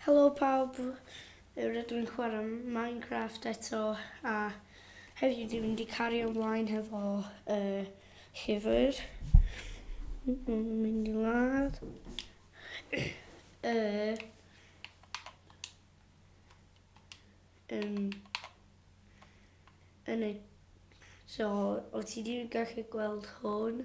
Helo pawb, rydw i'n chwarae Minecraft eto a heddiw dwi'n mynd i cario ymlaen hefo uh, llyfr. Dwi'n mynd i ladd. uh, um, yn y... So, o ti wedi gallu gweld hwn?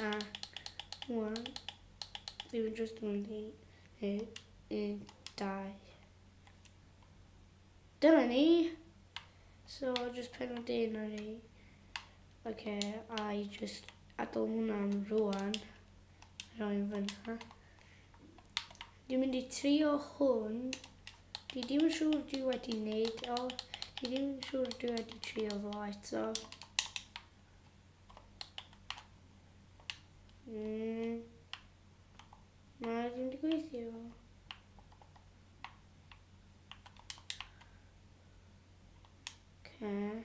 A wan, dwi yn just yn mynd i wneud un, dau. Dyna ni! So, just pen o dyn ar ei. Oce, a i just adael hwnna'n rwan. Rwy'n fyna. Dwi'n mynd i trio hwn. Dwi ddim yn siŵr dwi wedi wneud o. Dwi ddim yn siŵr dwi wedi trio fo eto. Mm. Na, ddim wedi gweithio. Okay.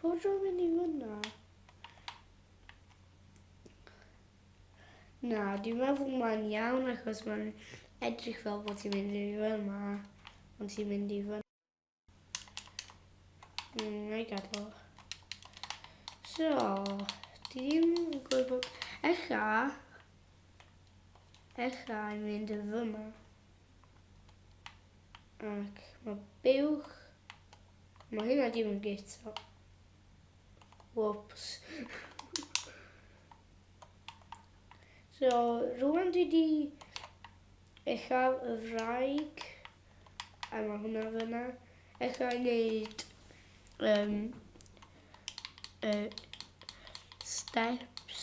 Fod rhywun mynd i fyna? Na, dwi'n meddwl mae'n iawn achos mae'n edrych fel bod ti'n mynd i fyna, ond ti'n mynd i fyna. Mm, I gadw. So, dwi'n gwybod, echa, echa i mynd i fyna. Ac mae buwch... Mae hynna dim yn git o. Whoops. so, rwan dwi di eich al y fraig. A mae hwnna fyna. Eich al wneud um, uh, steps.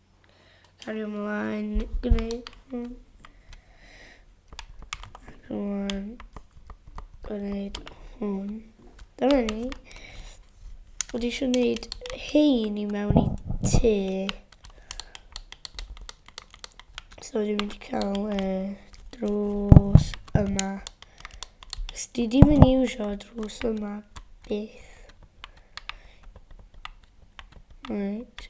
Cario ymlaen, gwneud hwn. Rwan, gwneud hwn. Dyma ni. Wedi eisiau gwneud hein i mewn i tŷ. So wedi mynd i cael e, drws yma. Os di di mynd i iwsio drws yma byth. Right.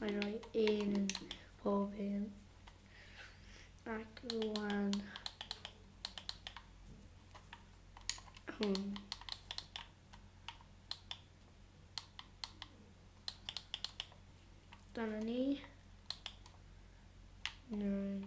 Mae rhoi un yn pob un. Ac rwan... Hwn. Dyna ni. Nine.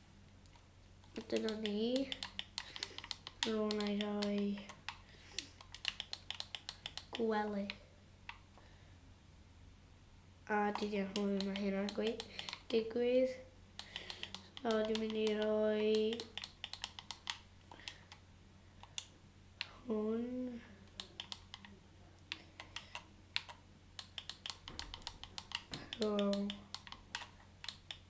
Dyna ni. Rwy'n ei roi gwely. A dyna hwy mae hynna'n gweud digwydd. So dwi'n mynd i roi hwn. So,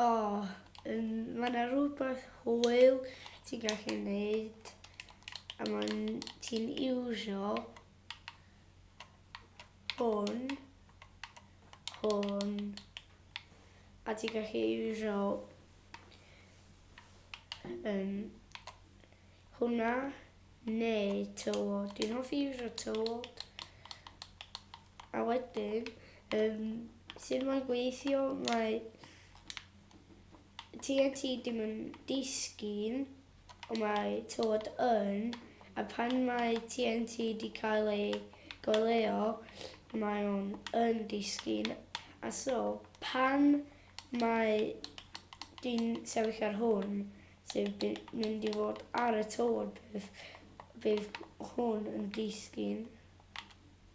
O, um, mae yna rhywbeth hwyl ti'n gallu gwneud a mae'n ti'n iwsio hwn, hwn, a ti'n gallu iwsio um, hwnna neu tywod. Dwi'n hoffi iwsio tywod. A wedyn yym sud mae'n gweithio mae TNT dim yn disgyn ond mae tywod yn a pan mae TNT wedi cael ei goleuo mae o'n yn disgyn a so pan mae dwi'n sefyll ar hwn sy'n mynd i fod ar y tywod bydd, bydd hwn yn disgyn.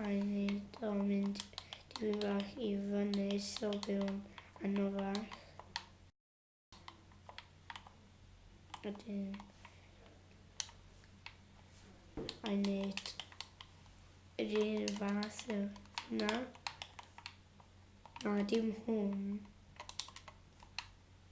I wneud o mynd dim fach i fyny so byw'n anno fach. Wedyn I wneud yr un fath o hwnna. Na dim hwn.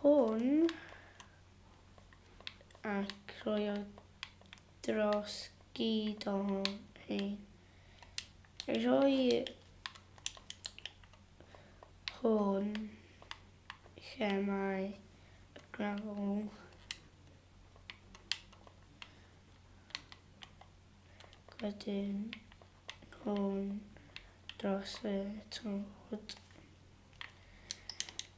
hwn a croio dros gyd o hyn. Rhoi hwn lle mae y gravel. Wedyn hwn dros y tod.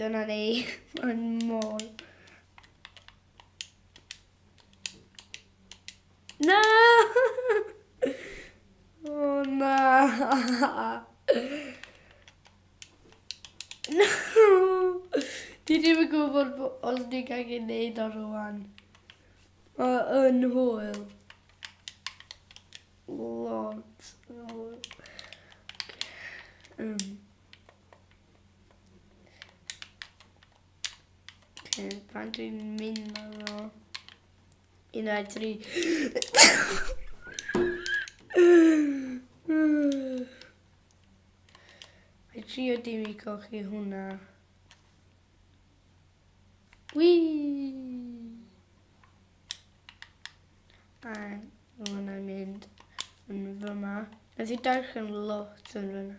Dyna ni. Mae'n mol. Na! O oh, na! No! Dwi ddim yn gwybod os ni'n cael ei wneud o rwan. Mae'n hwyl. Lot. Um. Okay, pan dwi'n mynd na fo. Un, dau, tri. I trio dim i golchi hwnna. Whee! A hwnna'n mynd yn fyma. Nes i darllen lot yn fyna.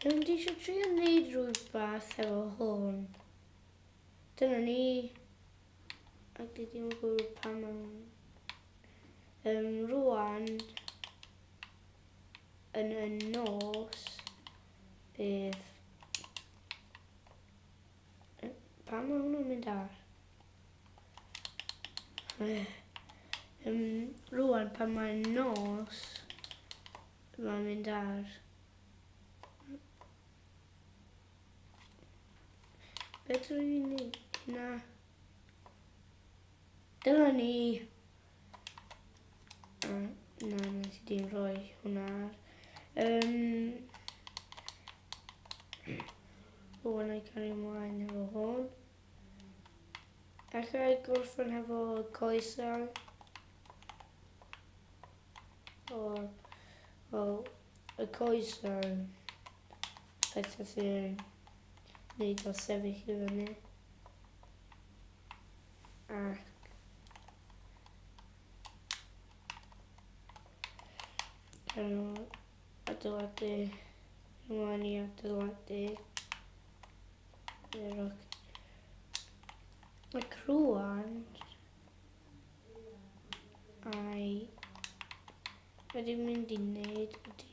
Dwi'n mynd eisiau trio wneud rhywbeth efo hwn. Dyna ni. Ac dwi ddim yn gwybod pam am... Um, rwan, yn y nos, bydd Pam mae hwnnw'n mynd ar? Um, rwan pan mae'n nos, mae'n mynd ar. Beth rwy'n ei wneud? Na. Dyna ni. Na, na, nes i di'n rhoi hwnna ar. Um, o, yna i cario ymlaen efo hwn. Alla i gorffen hefo coesau. O, o, y coesau. Pethau sy'n neud o sefyll i fyny. Ac Cael adeiladu, ymlaen i adeiladu yr og. Mae crwan ai wedi mynd i wneud ydi.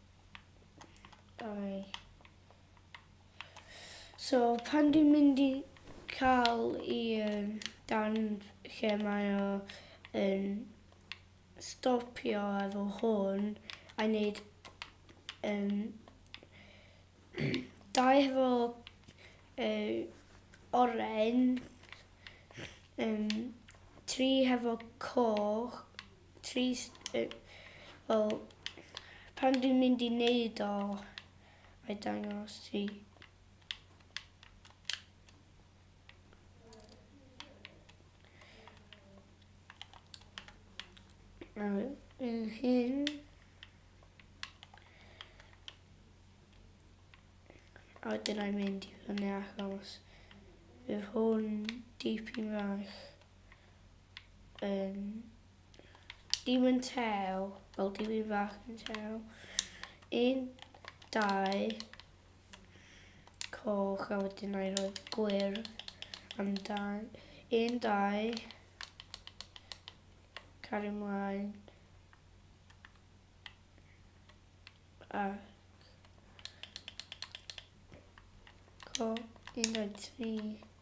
Dau. So, pan dwi'n mynd i cael i um, dan lle mae o yn stopio efo hwn a wneud um, dau efo uh, oren, um, tri hefo coch, Trist yy wel pan dwi'n mynd i neud o mae dangos ti yy fy hun a wedyn 'nai mynd i fyny achos bydd hwn dipyn fach Um, dim yn tew. Wel, dim yn fach yn tew. Un, dau, coch, a wedyn a'i roi gwir amdan. Un, dau, cario ymlaen. A... Coch, un, dau, tri.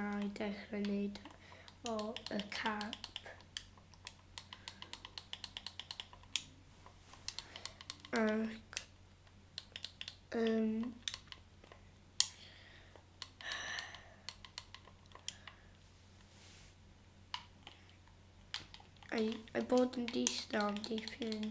Na i dechrau wneud o y cap. Ac um, I, I bod yn distaw am dipyn.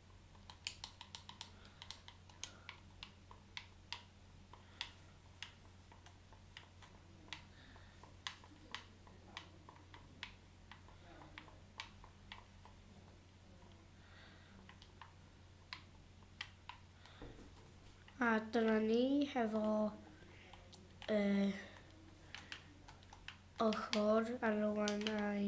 A dyna ni hefo uh, ochr ar y wan a'i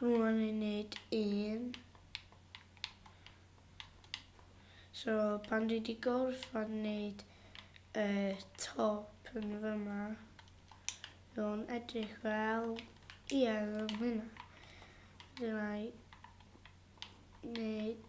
Rwan ni'n neud un. So pan dwi di gorfod neud y top yn fyma, nhw'n edrych fel iedd yn hynna. Dyna i neud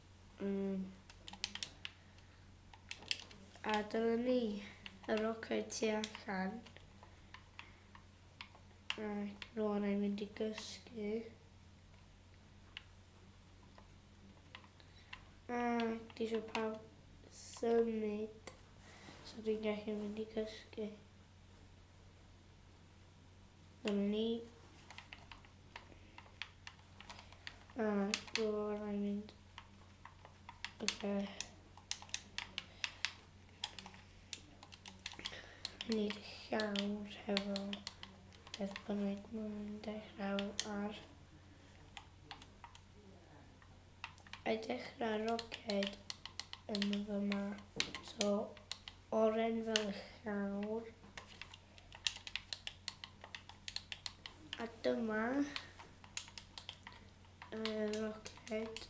Mm. A dyna ni, y rocau tu allan. Ac rwan i'n mynd i gysgu. A di eisiau pawb symud. So dwi'n gallu mynd i gysgu. Ynni. A do rhaid mynd. Oce. Ni llawr hefo beth bynnag mae'n dechrau ar. I dechrau roced yn fy ma. So, oren fel y llawr. A dyma y roced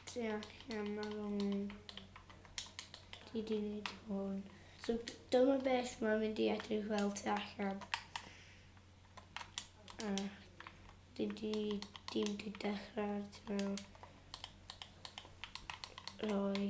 tu allan ar ôl ti di wneud hwn. So dyma beth mae'n mynd i edrych fel tu allan. A di di di di dechrau tu mewn. Roi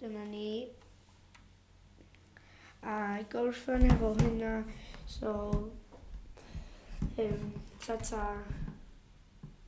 Dyma ni. A gorffen efo hynna, so, um, ta-ta.